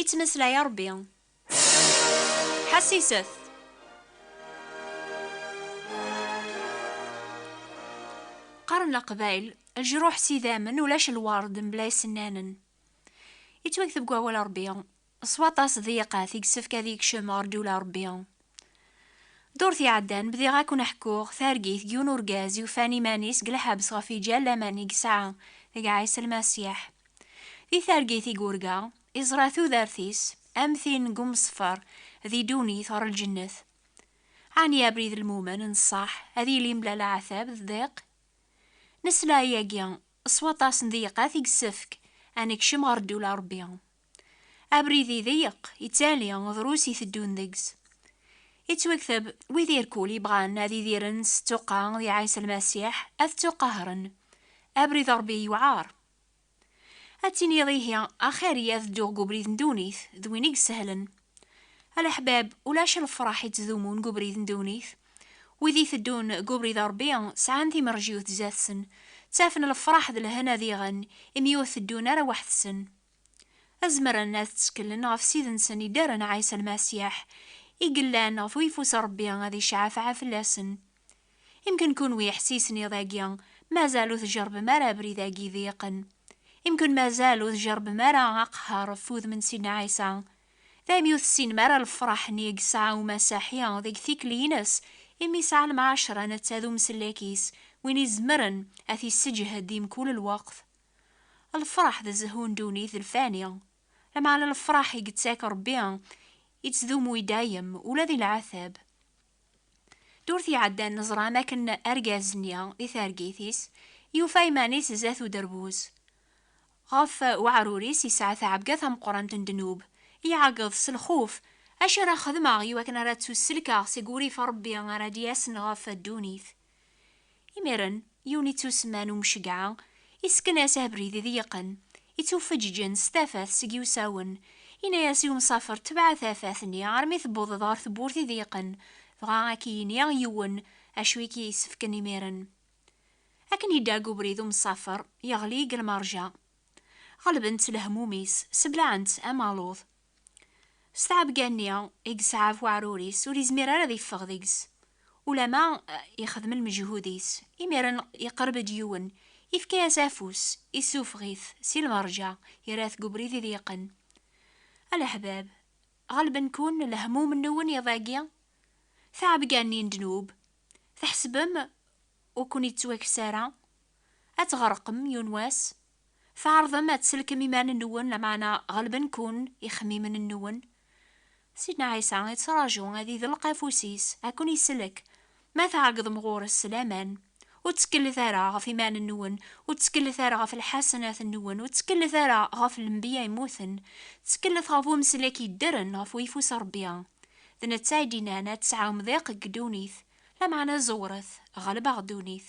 Ittmeslay a Ṛebbi. Ḥassiset. Qqaren leqbayel, lejruḥ s idammen, ulac lwerd mebla isennanen. Yettwakteb deg wawal n Ṛebbi, s waṭas diqqat i yessefk ad yekcem ɣer ddula n Ṛebbi. Ddurt iɛeddan, bdiɣ ad ken-ḥkuɣ targit n yiwen urgaz yufan iman-is deg lḥebs ɣef yiǧal laman i yesɛa deg Ɛisa Lmasiḥ. Di targit i yurga, iẓra tudert-is am tin n umesfer di ddunit ɣer lǧennet. Ɛni abrid n lmumen n ṣṣeḥ ad yili mebla leɛtab d ddiq? Nesla i yagi s waṭas n ddiqat i yessefk ad nekcem ɣer ddula n Rebbi. Abrid iḍeyeq, ittali, drus i teddun deg-s. Ittwekteb, wid irkul yebɣan ad idiren s ttuqqa di Ɛisa Lmasiḥ, ad ttuqahren. Abrid n Rebbi yewɛer. Ad tiniḍ ihi, axir-iyi ad dduɣ deg ubrid n ddunit, d win i isehlen. A leḥbab, ulac lefraḥ ittdumun deg ubrid n ddunit. Wid iteddun deg ubrid n Rebbi sɛan timerjiwt zdat-sen, ttafen lefraḥ d lehna diɣen, imi ur teddun ara weḥd-sen. ad zemren ad tteklen ɣef Ssid-nsen iddaren Ɛisa Lmasiḥ, i yellan ɣef uyeffus Rebbi ad icɛafɛa fell-asen. Imken kunwi iḥessisen iḍ-agi mazal ur tjerbem ara abrid-agi iḍeyqen. Imken mazal ur tjerbem ara aqehher ɣef wudem n Sidna Ɛisa. Daymi ur tessinem ara lefraḥ-nni i yesɛa umasaḥi deg tikli-ines imi yesɛa lemɛacra netta d umsellek-is, win izemren ad t-yesseǧhed di mkul lweqt. Lefraḥ d zehhu n ddunit d lfani, lameɛna lefraḥ i yettak Rebbi yettdumu i dayem, ula di leɛtab. Ddurt iɛeddan neẓram akken argaz-nni, di targit-is, yufa iman-is zdat uderbuz. Ɣef weɛrur-is yesɛa taɛebga tameqqrant n ddnub, iɛeggeḍ s lxuf, Acu ara xedmeɣ iwakken ara ttusselkeɣ seg urrif n Rebbi ara d-yasen ɣef ddunit? Imiren, yiwen ittusemman Umcegɛa, isken-as abrid i d-yeqqen, ittuffeǧǧǧen s tafat seg iwsawen, yenna-as i umsafer tebɛa tafat-nni armi tewwḍeḍ ɣer tewwurt i d-yeqqen, dɣa ad k-yini yiwen acu i k-yessefken imiren. Akken yedda deg ubrid umsafer, yeɣli deg lmerja. Ɣelben-t lehmum-is, seblaɛen-t am aluḍ. S tɛebga-nni i yesɛa ɣef weɛrur-is, ur yezmir ara ad yeffeɣ deg-s, ulamma yexdem lmeǧhud-is. Imiren yeqreb-d yiwen, yefka-as afus, yessufeɣ-it si lmerǧa, yerra-t deg ubrid iḍyiqen. A leḥbab! Ɣelben-ken lehmum-nwen iḍ-agi? Tɛebga-nni n ddnub, tḥesbem ur ken-yettwakkes ara? Ad tɣerqem yiwen wass? tɛerḍem ad tsellkem iman-nwen, lameɛna ɣelben-ken ixemmimen-nwen. Sidna Ɛisa ittraǧu ad idelq afus-is ad ken-isellek, ma tɛeggḍem ɣur-s s laman. Ur tteklet ara ɣef iman-nwen, ur tteklet ara ɣef lḥasenat-nwen, ur tteklet ara ɣef lenbiya yemmuten, tteklet ɣef Umsellek yeddren ɣef uyeffus n Rebbi. D netta i d-yennan, Ad tesɛum diq deg ddunit, lameɛna ẓewret, ɣelbeɣ ddunit.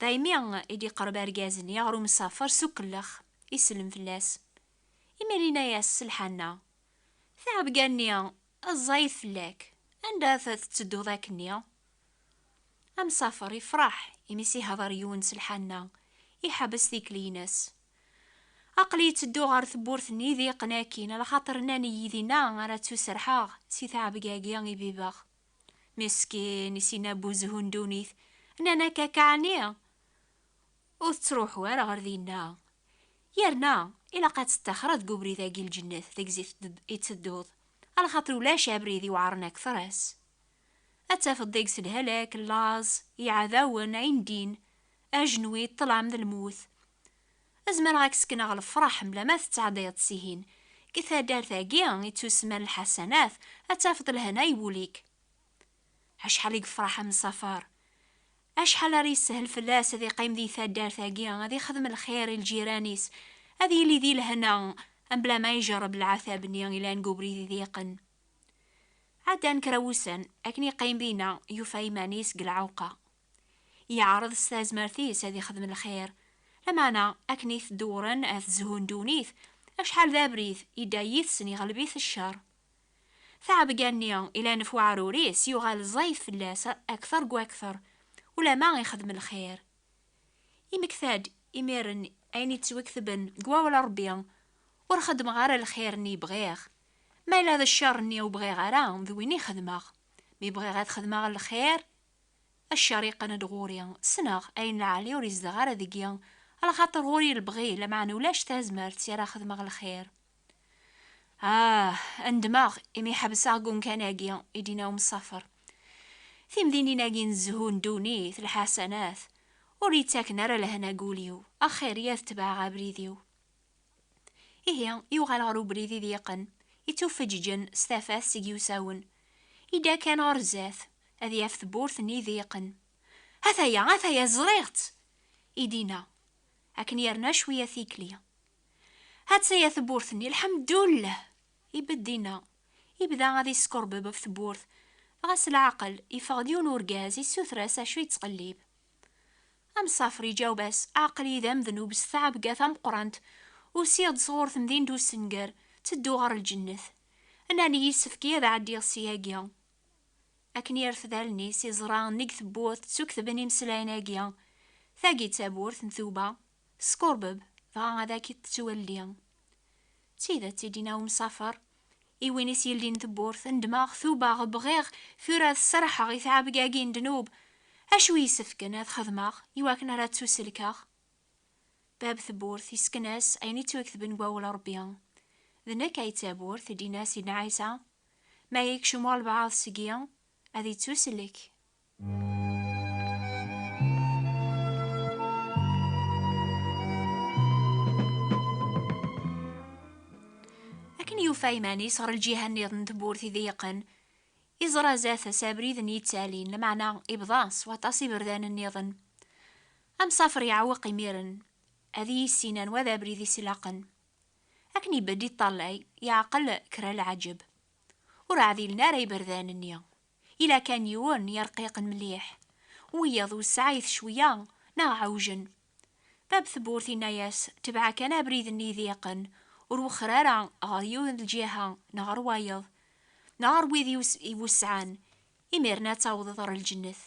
Daymi i d-iqreb argaz-nni ɣer umsafer s ukellex, isellem fell-as. Imir yenna-as s lḥanna, Taɛebga-nni ẓẓayet fell-ak, anda ad tettedduḍ akkenni? Amsafer ifreḥ imi s ihder yiwen s lḥanna, iḥebbes tikli-ines. Aql-i ttedduɣ ɣer tewwurt n Idiqen akkin, ala xaṭer nnan-iyi dinna ara ttuserḥeɣ si taɛebga-agi i bibeɣ. Meskin i sin abuzhu n ddunit, nnan akka-k ɛni? Ur tettruḥu ara ɣer dinna. Yerna ilaq ad tettaxreḍ deg ubrid-agi n lǧennet deg-s i ttedduḍ, alxaṭer ulac abrid iweɛren akteṛ-as. Ad tafeḍ deg-s lhalak, llaẓ, iɛdawen, ayendin, ajenwi, ṭṭlam d lmut, Azmer ɣak sekneɣ lefraḥ mla ma tettɛeddiḍ s ihin. Deg taddart agi i tusman lḥasanat ad tafeḍ lehna i wul-ik. Acḥal i yefraḥ a Msafar. Acḥal ara yessehel fell-as ad iqqim di taddart agi ad ixdem lxir i lǧiran-is, ad yili di lehna mla ma ijerreb lɛatab-nni ilan deg ubrid idiqen. Ɛeddan kra wussan, akken iqqim dinna yufa iman-is deg lɛewqa. Yeɛreḍ s tazmert-is ad ixdem lxir, lameɛna akken i t-dewren at zhu n ddunit, acḥal d abrid, yedda yid-sen iɣleb-it ccer. Taɛebga-nni ilan ɣef weɛrur-is yuɣal ẓẓayet fell-as akter gu akter, ulamma ixdem lxir. Yemmekta-d imiren ayen yettweketben deg wawal n Rebbi, Ur xeddmeɣ ara lxir-nni i bɣiɣ, ma yella d ccer-nni ur bɣiɣ ara d win i xedmeɣ, mi bɣiɣ ad xedmeɣ lxir, A ccer yeqqen-d ɣur-i, ssneɣ, ayen lɛali ur yezdeɣ ara deg-i, lxaṭer ɣur-i lebɣi, lameɛna ulac tazmert i ara xedmeɣ lxir. Ah! Nedmeɣ imi ḥebseɣ deg umkan-agi, i d-yenna umsafer. Timdinin-agi n zzhu n ddunit, lḥasanat, ur yi-ttaken ara lehna deg wul-iw, axir-iyi ad tebɛeɣ abrid-iw. Ihi, yuɣal ɣer ubrid i d-yeqqen, ittuffeǧǧǧen s tafat seg yiwsawen. Yedda kan ɣer zdat, ad yaf tewwurt-nni i d-yeqqen. Ataya, ataya, ẓriɣ-tt! i d-yenna, akken yerna cwiya tikli. Attaya tewwurt-nni, lḥemdullah! ibedd dinna, yebda ad yeskerbeb ɣef tewwurt, dɣa s leɛqel, yeffeɣ-d yiwen urgaz, yessuter-as acu yettqellib. Amsafer iǧaweb-as, Aql-iyi d amednub s tɛebga tameqqrant, usiɣ-d sɣur temdint ussenger, ttedduɣ ɣer lǧennet. Nnan-iyi yessefk-iyi ad ɛeddiɣ ssyagi. Akken yerfed allen-is, iẓra nnig tewwurt ttuktben imeslayen-agi, Tagi d tawwurt n tuba, Teskurbeb, dɣa ad ak-tettwelli. D tidet i d-yenna umsafer i win i s-yeldin tewwurt, Nedmeɣ, tubeɣ, bɣiɣ tura ad serrḥeɣ i tɛebga-agi n ddnub. Acu i yessefken ad xedmeɣ i wakken ara ttuselkeɣ? Bab tewwurt yessken-as ayen i ttwaketben deg Wawal n Rebbi, D nekk ay d tawwurt, i d-yenna Sidna Ɛisa. Ma yekcem walebɛaḍ seg-i, ad yettusellek. yufa iman-is ɣer lǧiha nniḍen tewwurt idiqen iẓra zat-s abrid n yittalin lameɛna ibḍa s waṭas iberdan nniḍen amsafer yeɛweq imiren ad yissin anwa d abrid is ilaqen akken ibedd iṭṭallay yeɛqel kra lɛaǧeb ur ɛdilen ara iberdan-nni Yella kan yiwen n yirqiqen mliḥ, wiyaḍ ur sɛayet cwiya neɣ ɛewjen. Bab tewwurt yenna-yas, Tebɛa kan abrid-nni idiqen, ur wexxer ara ɣer yiwen n lǧiha neɣ ɣer wayeḍ, neɣ ɣer wid iwesɛan, imiren ad tawḍeḍ ɣer lǧennet.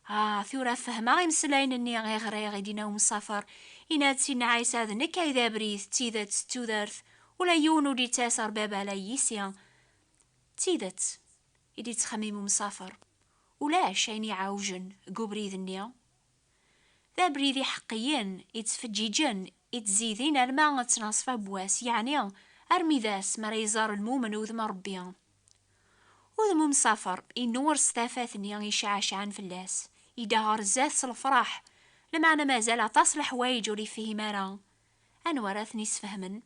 Ah, tura fehmeɣ imeslayen-nni i ɣriɣ i d-yenna umsafer, yenna-d Sidna Ɛisa, D nekk ay d abrid, d tidet, d tudert, ula yiwen ur d-yettas ɣer Baba ala yis-i. D tidet, i d-yettxemmim umsafer, ulac ayen iɛewjen deg ubrid-nni. D abrid iḥeqqiyen, ittfeǧǧiǧen, ittzidin alma ttnaṣfa n wass, yeɛni armi d ass mi ara iẓer lmumen udem n Rebbi. Udem umsafer innuɣer s tafat-nni iceɛceɛen fell-as, yedda ɣer zdat s lefraḥ, lameɛna mazal aṭas n leḥwayeǧ ur yefhim ara. Anwa ara ten-isfehmen?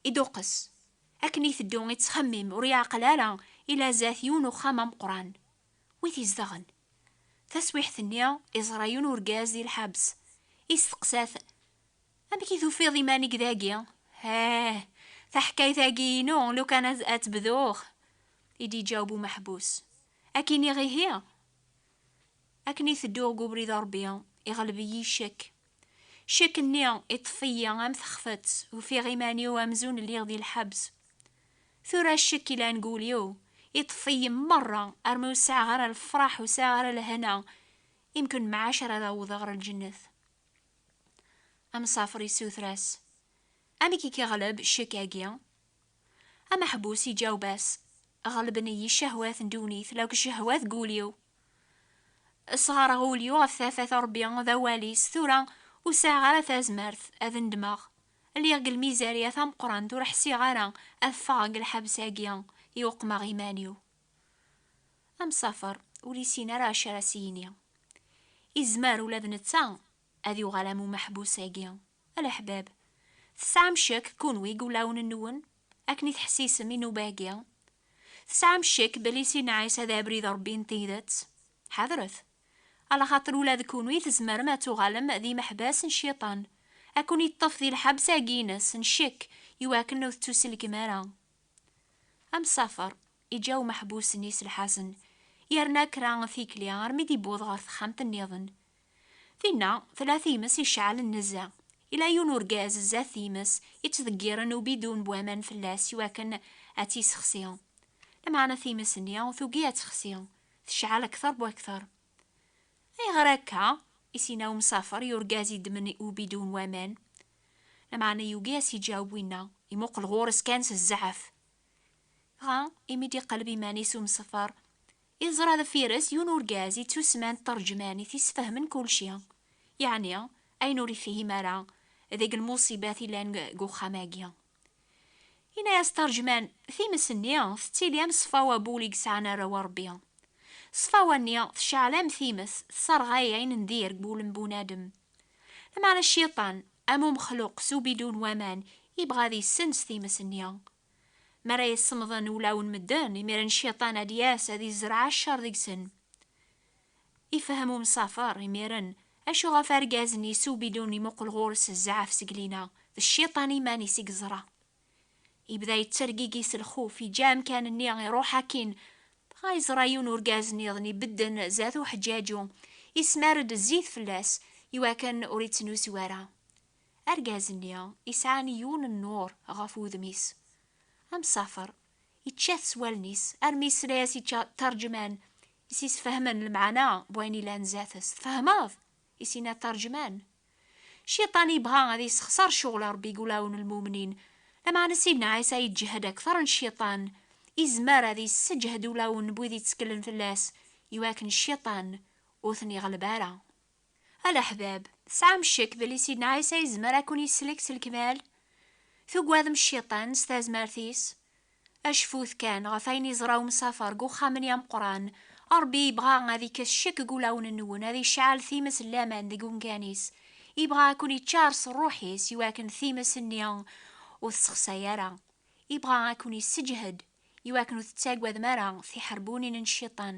Iduqqes. Akken iteddu ittxemmim ur yeɛqel ara ila zdat yiwen uxxam ameqqran. Wi t-izedɣen? Taswiḥt-nni iẓra yiwen urgaz di lḥabs. Isteqsa-t, Amek i tufiḍ iman-ik dagi? Heh! Taḥkayt-agi inu lukan ad tebduɣ! I d-iǧaweb umeḥbus. Ad k-iniɣ ihi? Akken iteddu deg ubrid n Rebbi iɣleb-iyi ccek. Ccek-nni iṭṭef-iyi am texfet, ufiɣ iman-iw amzun lliɣ di lḥebs. Tura ccek ilan deg wul-iw iṭṭef-iyi merra armi ur sɛiɣ ara lefraḥ ur sɛiɣ ara lehna imken mɛac ara ad awḍeɣ ɣer lǧennet. Amsafer yessuter-as, Amek i k-iɣleb ccek-agi? Ameḥbus iǧaweb-as, Ɣelben-iyi ccehwat n ddunit lakk ccehwat n wul-iw. Sɣareɣ ul-iw ɣef tafat n Ṛebbi d awal-is, tura ur sɛiɣ ara tazmert ad nedmeɣ. Lliɣ deg lmizarya tameqqrant, ur ḥsiɣ ara ad ffɣeɣ deg lḥebs-agi i uqmeɣ iman-iw. Amsafer ur yessin ara acu ara s-yini. Izmer ula d netta ad yuɣal am umeḥbus-agi. A leḥbab, tesɛam ccek kunwi deg wulawen-nwen, akken i teḥsisem i nnuba-agi? Tesɛam ccek belli Sidna Ɛisa d Abrid n Ṛebbi n tidet? Ḥadret! Alaxaṭer ula d kunwi tzemrem ad tuɣalem d imeḥbas n Cciṭan, ad ken-iṭṭef di lḥebs-agi-ines n ccek i wakken ur tettuselkem ara. Amsafer iǧǧa umeḥbus-nni s lḥazen, yerna kra tikli armi d-iwweḍ ɣer texxamt-nniḍen, Tinna tella times iceɛlen nezzeh. Yella yiwen urgaz zdat times, yettḍeggiren ubidun n waman fell-as i wakken ad tt-yessexsi. Lameɛna times-nni tugi ad texsi, tecɛel akter bu akter. Ayɣer akka? i s-yenna umsafer i urgaz yeddmen ubidun n waman. Lameɛna yugi ad s-yeǧaweb winna, imuqel ɣur-s kan s zzɛaf. Dɣa, imi d-iqelleb iman-is umesfer, yeẓra deffir-s yiwen urgaz yettusman d taṛejmanit yessfehmen kulci, yeɛni ayen ur ifhim ara deg lmuṣibat yellan deg uxxam-agi. Yenna-as taṛejman, Times-nni tettili am ṣṣfa wabul i yesɛan arraw a Ṛebbi. Ṣṣfawa-nni tceɛl am times, tesserɣay ayen n dir deg wul n bunadem. Lameɛna Cciṭan, Am umexluq s ubidu n waman, yebɣa ad yessens times-nni. Mi ara yessemḍen ulaw n medden, imiren Cciṭan ad d-yas ad yezreɛ ccer deg-sen. Ifehhem umsafer, imiren, acu ɣef argaz-nni s ubidu n imuqel ɣur-s zɛaf seg lina, d Cciṭan iman-is i yeẓra. Yebda yettergigi s lxuf, yeǧǧa amkan-nni, iruḥ akkin. Dɣa yeẓra yiwen urgaz nniḍen ibedden zdat uḥeǧǧaǧu, yesmar-d zzit fell-as, iwakken ur ittnusu ara. Argaz-nni yesɛan yiwen n nnur ɣef wudem-is. Amsafer, yečča-t s wallen-is, armi yesla-as i Tarǧman, i s-yesfehmen lemɛana n wayen yellan zdat-s. Tfehmeḍ? I s-yenna Tarǧman. Cciṭan yebɣa ad yessexṣer ccɣel Ṛebbi i wulawen n lmumnin. Lameɛna Sidna Ɛisa yeǧǧehed akteṛ n cciṭan. Yezmer ad yesseǧhed ulawen n wid yetteklen fell-as i wakken cciṭan ur ten-iɣleb ara. A leḥbab, tesɛam ccek belli Sidna Ɛisa yezmer ad ken-yesslek s lekmal? Tugadem cciṭan s tazmert-is? Acfut kan ɣef ayen yeẓra umsafer deg uxxam-nni ameqqran. Ṛebbi yebɣa ad ikkes ccek deg wulawen-nwen, ad icɛel times n laman deg ungan-is. Yebɣa ad ken-iččar s Ṛṛuḥ-is i wakken times-nni ur tessexsay ara. Yebɣa ad ken-isseǧhed i wakken ur tettaggadem ara tiḥerbunin n Cciṭan.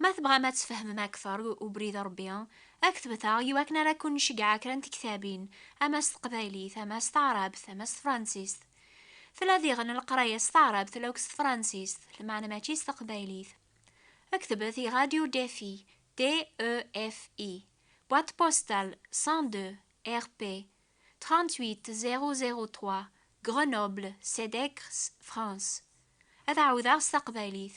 Ma tebɣam ad tfehmem akter ubrid n Rebbi, aktbet-aɣ i wakken ara kkun-nceggeɛ kra n tektabin, ama s teqbaylit, ama s taɛrabt, ama s tefransist. Tella diɣen leqraya s taɛrabt lauk s tefransist, lmeɛna mačči s teqbaylit. Ktbet i Radio Defi, DEFI, Boîte postale 102, RP 38003, Grenoble, Cedecres, France. Ad ɛawdeɣ s taqbaylit,